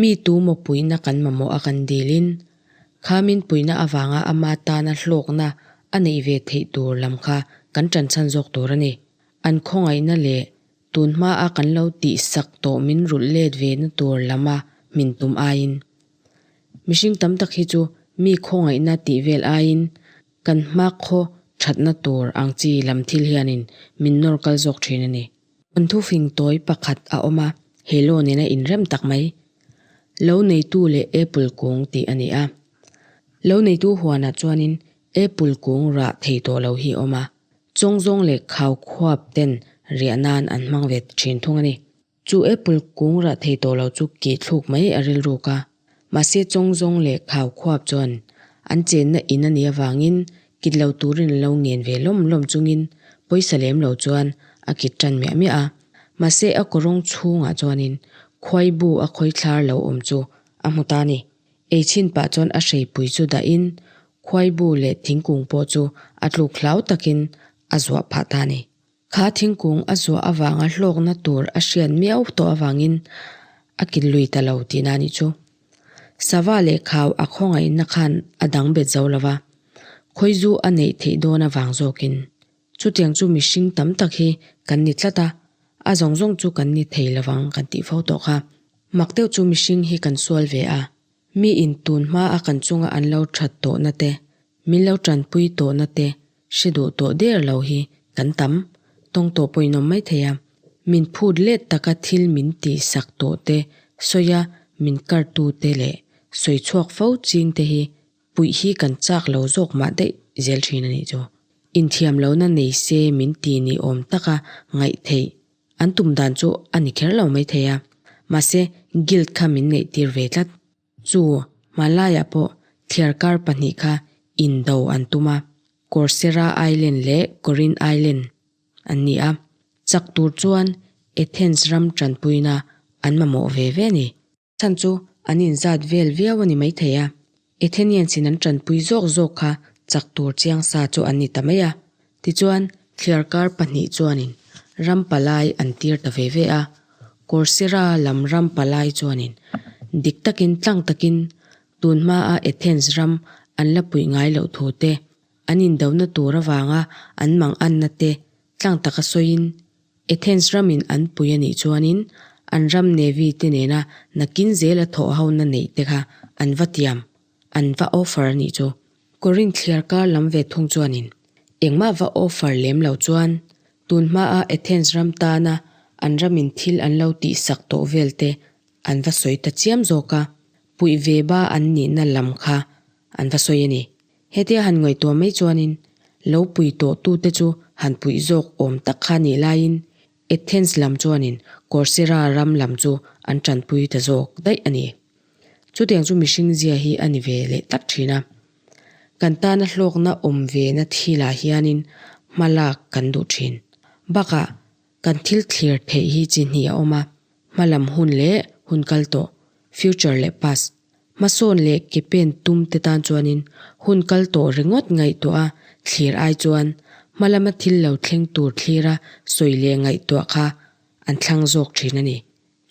Mi tu mawpuina kan mamawh a kan dil in, kha min puina avanga ama tana hlawkna a neih ve theih tur lam kha kan tanchhan zawk tur a ni. An khawngaihna leh tunhma a kan lo tih sak tawh min rulh let ve na tur lama hmin tum aiin, mihring tam tak hi chu mi khawngaihna tih vel aiin kan hma khaw thatna tur ang chi lam thil hianin min nawr kal zawk thin a ni. An thu fing tawi pakhat a awm a, he loan in a inrem tak mai. Lo neitu leh Apple kung tih a ni a. Lo neitu huanah chuanin Apple kung rah thei tawh lo hi a awm a, chawng zawng leh khau khuap ten riah nan an hmang ve thin thung a ni. Chu Apple kung rah thei tawh lo chu kihthluk mai a rilruk a. Mahse chawng zawng leh khau khuap chuan an chenna in a nih avangin kit lo turin an lo ngen ve lawm lawm chungin pawisa lem lo chuan a kit tan miah miah a. Mahse a kawrawng chhungah chuanin khuai bu a khawi thlar lo awm chu a hmu ta ni. Ei chin pah chuan a hreipui chu dahin khuai bu leh thingkung pawh chu a tluk hlau takin a zuah phah ta ni. Kha thingkung a zuah avanga hlawkna tur a hriat miau tawh avangin a kin lui ta lo tihna a nih chu. Sava leh khau a khawngaihna khan a dang bet zo lova, khawizu a neih theih dawn avang zawkin. Chutiang chu mihring tam tak hi kan ni tlat a, a zawng zawng chu kan ni thei lovang kan tih fo tawh kha. Mak deuh chu mihring hi kan sual ve a, Mi in tun hma a kan chunga an lo that tawhna te, min lo tanpui tawhna te hre duh tawh der lo hi kan tam tawng tawh pawhin awm mai thei a. Min phut let taka thil min tihsak tawh te, sawia min kar tu te leh sawi chhuak fo ching te hi puih hi kan chak lo zawk mah daih zel thin a nih chu. Inthiam lohna nei se min ti ni awm taka ngaih theih An tum dan chu a ni kher lo mai thei a, mahse guilt kha min neih tir ve tlat. Chu hmalaiah pawh thliar kar pahnih kha indo an tum a, Corcera Island leh Corin Island an ni a, chak tur chuan Athens ram tanpuina an mamawh ve ve a ni. Chhan chu an inzat vel viau a ni mai thei a, Athenian sin an tanpui zawk zawk kha chak tur chiang sa chu an ni ta mai a. Tichuan, thliar kar pahnih chuanin ram palai an tir ta ve ve a, Corcyra lam ram palai chuanin dik takin tlang takin tun hmaa Athens ram an la puih ngai loh thu te, an indona tur avanga an manganna te tlang taka sawiin, Athens ramin an pui a nih chuanin an ram Navy-te nena nakin zel a thawh ho na neih te kha an va tiam, an va offer a nih chu. Corinth thliar kar lam ve thung chuanin engmah va offer lem lo chuan tun hmaa Athens ram tana an ramin thil an lo tih sak tawh vel te an va sawi ta chiam zawk a, puih ve ba an nihna lam kha an va sawi a ni. Hetia han ngaihtuah mai chuanin lo pui tawh tute chu han puih zawk awm tak kha nih laiin Athens lam chuanin Corcyra ram lam chu an tanpui ta zawk daih a ni. Chutiang chu mihring zia hi a ni ve leh tak thin a. Kan tana hlawkna awm ve na thilah hianin hmalak kan duh thin. Bakah Kan thil thlir theih hi chi hnih a awm a, hmalam hun leh hun kal tawh, future leh past, hmasawn leh ke pen tum te tan chuanin hun kal tawh ringawt ngaihtuah a thlir ai chuan hmalama thil lo thleng tur thlira sawi leh ngaihtuah kha an thlang zawk thin a ni.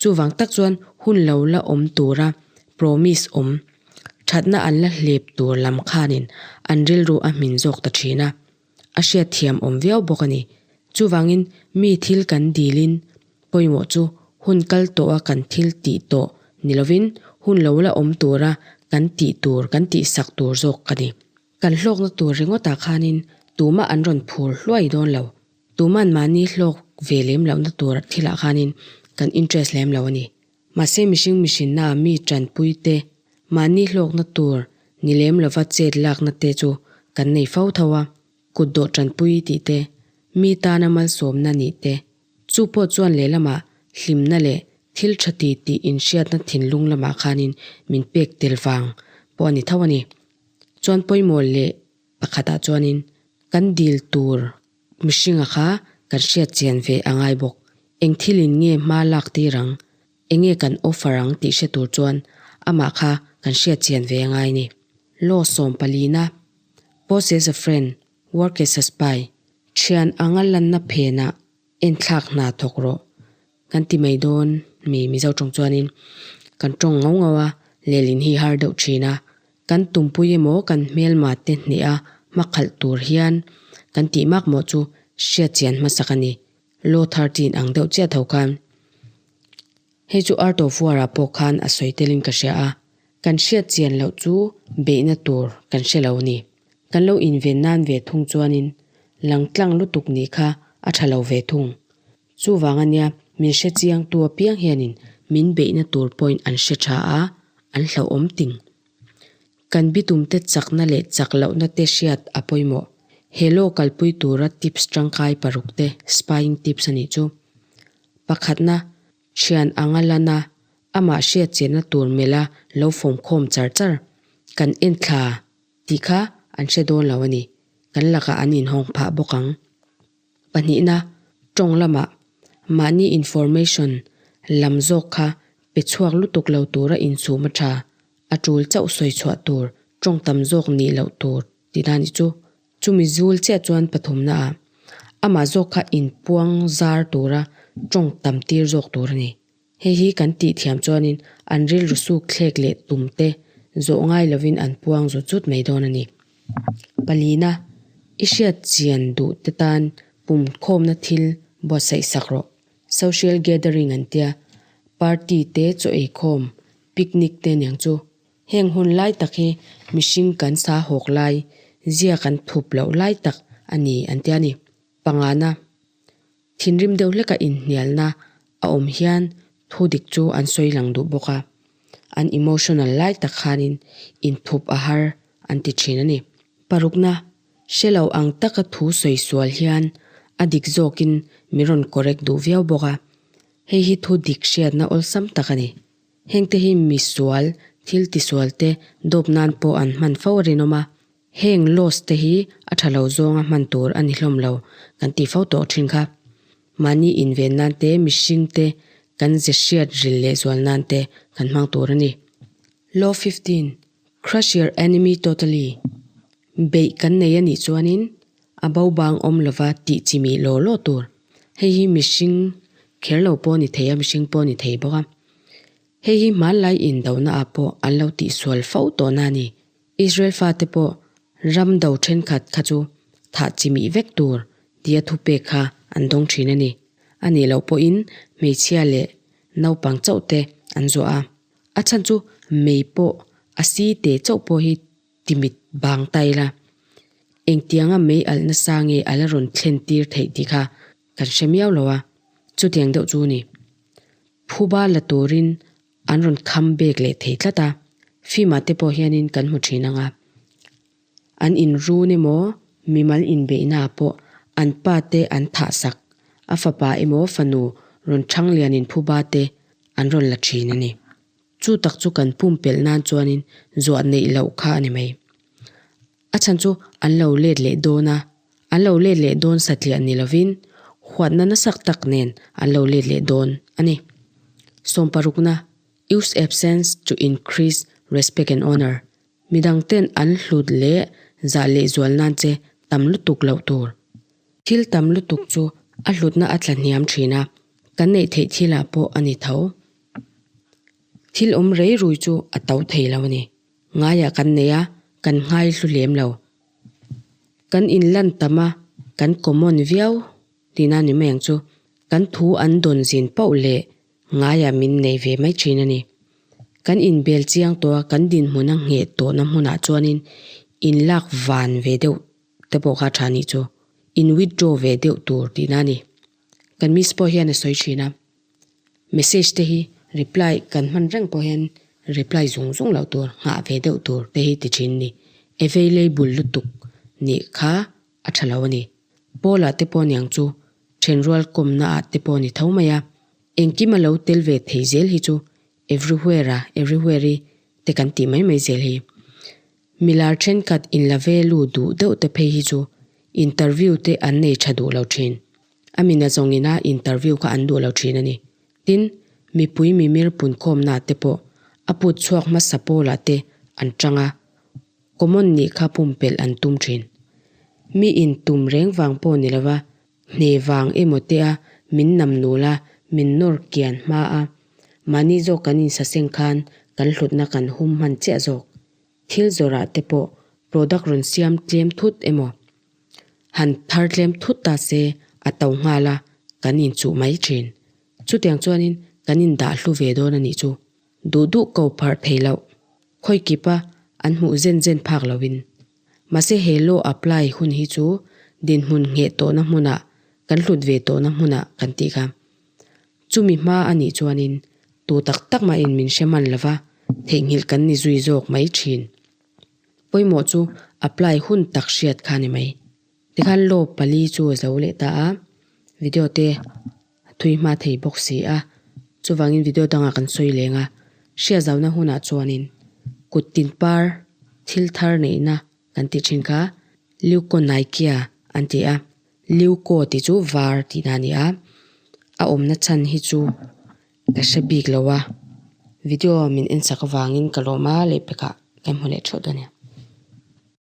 Chuvang tak chuan hun lo la awm tura promise awm thatna an la hlep tur lam khanin an rilru a hmin zawk ta thin a, a hriat thiam awm viau bawk a ni. Chuvangin mi thil kan dilin pawimawh chu hun kal tawha kan thil tih tawh ni lovin hun lo la awm tura kan tih tur kan tih sak tur zawk a ni. Kan hlawkna tur ringawtah khanin tumah an rawn phur hluai dawn lo Tuman mahni hlawk ve lem lohna tur thilah khanin kan interest lem lo a ni. Mahse mihring mihrinna ah mi tanpui te, mahni hlawkna tur ni lem lova chet lakna te chu kan nei fo tho a. Kut dawh tanpui tih te, mi tana malsawmna nih te, chu pawh chuan lehlamah hlimna leh thil tha ti tih inhriatna thinlung lamah khanin min pek tel vang pawh a ni tho a ni. Chuan pawimawh leh Pakhatah chuanin, Kan dil tur mihringa kha kan hriatchian ve a ngai bawk. Eng thilin nge hma lak tir ang? Enge kan offer ang tih hre tur chuan amah kha kan hriatchian ve a ngai ni? Law sawm palina, Pose as a friend, work as a spy, thian anga lanna phenah Enthlak hna thawk rawh kan ti mai dawn mi Mizo tawng chuanin, Kan tawng ngau ngau a, lelin hi har deuh thin a, kan tumpui emaw kan hmelmate hnehah a hma khalh tur hian kan tih mak maw chu hriatchian hmasak a ni. Law thirteen ang deuh chiah tho khan. Hei chu Art of War-ah pawh khan a sawi telin ka hria a, Kan hriatchian loh chu beihna tur kan hre lo ni. Kan lo inven nan ve thung chuanin langtlang lutuk nih kha a tha lo ve thung. Chuvang a nia, min hrechiangtu apiang hianin min beihna tur pawhin an hre tha a, an hlauhawm ting. Kan bitumte chakna leh chak lohna te hriat a pawimawh. He law kalpui tura tips tangkai parukte, spying tips, a nih chu. Pakhatna, Thian ang a lan a, amah hriatchiahna tur melha lo fawmkhawm char char. Kan en thla tih kha an hre dawn lo a ni. Kan lakah an inhawng phah bawk ang. Pahnihna, tawng lamah mahni information lam zawk kha pe chhuak lutuk lo tura insum a tha, a tul chauh sawi chhuah tur, tawng tam zawk nih loh tur ti dani chu Chumi zul chiah chuan pathumna ah amah zawk kha in puang zar tura tawng tam tir zawk tur a ni. Hei hi kan tih thiam chuanin an rilru suk thlek leh tum te zawh ngai lovin an puang zut zut mai dawn a ni. Palina, i hriat chian duh te tan pumkhawmna thil buatsaihsak rawh. Social gathering an tia, party te chaw ei khawm, picnic te niang chu Heng hun lai tak hi mihring kan sa hawk lai zia kan thup loh lai tak a ni an ti a ni. Pangana, thinrim deuh hleka inhnialna a awm hian thu dik chu an sawi lang duh bawk a, an emotional lai tak khanin inthup a har an ti thin a ni. Parukna, hre lo ang taka thu sawi sual hian a dik zawkin min rawn correct duh viau bawk a, hei hi thu dik hriatna awlsam tak a ni. Hengte hi misual, thil tisual te dawp nan pawh an hman fo a rinawm a, heng loss te hi a tha lo zawnga hman tur a ni hlawm lo kan tih fo tawh thin kha. Mahni inven nan te mihring te kan ze hriat ril leh zual nan te kan hmang tur a ni. Law fifteen. Crush your enemy totally, beih kan nei a nih chuanin a bo bang awm lova tih chi mih law law tur. Hei hi mihring kher lo pawh a ni thei a, mihring pawh a ni thei bawk a. Hei hi hmanlai indonaah pawh an lo tihsual fo tawhna a ni. Israel fate pawh ram do thenkhat kha chu thah chi mih vek tur tia thu pek kha an dawng thin a ni. A nih loh pawhin hmeichhia leh naupang chauhte an zuah a. A chhan chu mei pawh a si teh chauh pawh hi ti mit bang ta ila, engtianga mei alh nasa nge a la rawn thlen tir theih tih kha kan hre miau lo a, chutiang deuh chu ni. Phuba la turin an rawn come back leh thei tlat a, film-ah te pawh hianin kan hmu thin ang a, An inrun emaw mimal inbeihnaah pawh an pa te an thah sak, a fapa emaw fanu rawn changlianin phuba te an rawn la thin a ni. Chu tak chu kan pumpelh nan chuanin zuah neih loh kha a ni mai. A chhan chu an lo let leh dawn a, an lo let leh dawn satliah ni lovin huatna nasak tak nen an lo let leh dawn a ni. Sawm parukna, Use absence to increase respect and honour, Midang ten an hlut leh zah leh zual nan che tam lutuk loh tur. Thil tam lutuk chu a hlutna a tla hniam thin a, kan neih theih thil ah pawh a ni tho. Thil awm rei rui chu a to thei lo a ni. Ngai ah kan nei a, kan ngai hlu lem lo. Kan in lan tam a, kan common viau ti nan ni mai ang chu kan thu an dawn zin pauh leh Ngaiah min nei ve mai thin a ni. Kan inbel chiang tawha kan dinhmun a ngheh tawhna hmunah chuanin in lak van ve deuh te pawh kha a tha ni chu. In withdraw ve deuh tur tihna a ni. Kan miss pawh hian a sawi thin a. Message te hi reply kan hman reng pawh hian reply zung zung loh tur nghah ve deuh tur te hi ti thin a ni. Available lutuk nih kha a tha lo a ni. Paula te pawh niang chu then rual kawmna ah te pawh ni tho mai a, engkim a lo tel ve thei zel hi chu everywhere-a, everywhere-i te kan tih mai mai zel hi. Milar thenkhat in la ve lu duh deuh te phei hi chu interview te an nei tha duh lo thin. A mina zawng ina interview kha an duh lo thin a ni. Tin, mipui mimir punkhawmna te pawh a put chhuak hmasa Paula te an tang a, Common nih kha pumpelh an tum thin. Mi intum reng vang pawh ni lova, hne vang emaw te a min nam nul a, min nawr kian hma a. Mahni zawk kan insa seng khan kan hlutna kan hum hman chiah zawk. Thil zawrah te pawh product rawn siam tlem thut emaw, han thar tlem thut ta se a to nghal a, kan inchuh mai thin. Chutiang chuanin kan indah hlu ve dawn a nih chu. Duh duh ko pharh thei loh. Khawi kip a an hmuh zen zen phak lo in. Mahse he law apply hun hi chu dinhmun ngheh tawhna hmunah kan hlut ve tawhna hmuna kan tih kha. Chumi hma a nih chuan in tu tak tak mah in min hre man lo va, theihnghilh kan ni zui zawk mai thin. Pawimawh chu apply hun tak hriat kha a ni mai. Tikhan law pali chu zo leh ta a, video te. A thui hma thei bawk si a, chuvangin video dangah kan sawi leng a. Hria zau na hunah chuanin kut tin par thil thar neihna kan tih thin kha, Leukonaikia an ti a. Leuko tih chu var tihna a ni a. A awmna chhan hi chu ka hre bik lo a, video min ensak avangin ka lawm a, leihpekah ka hmu leh thup dawn nia.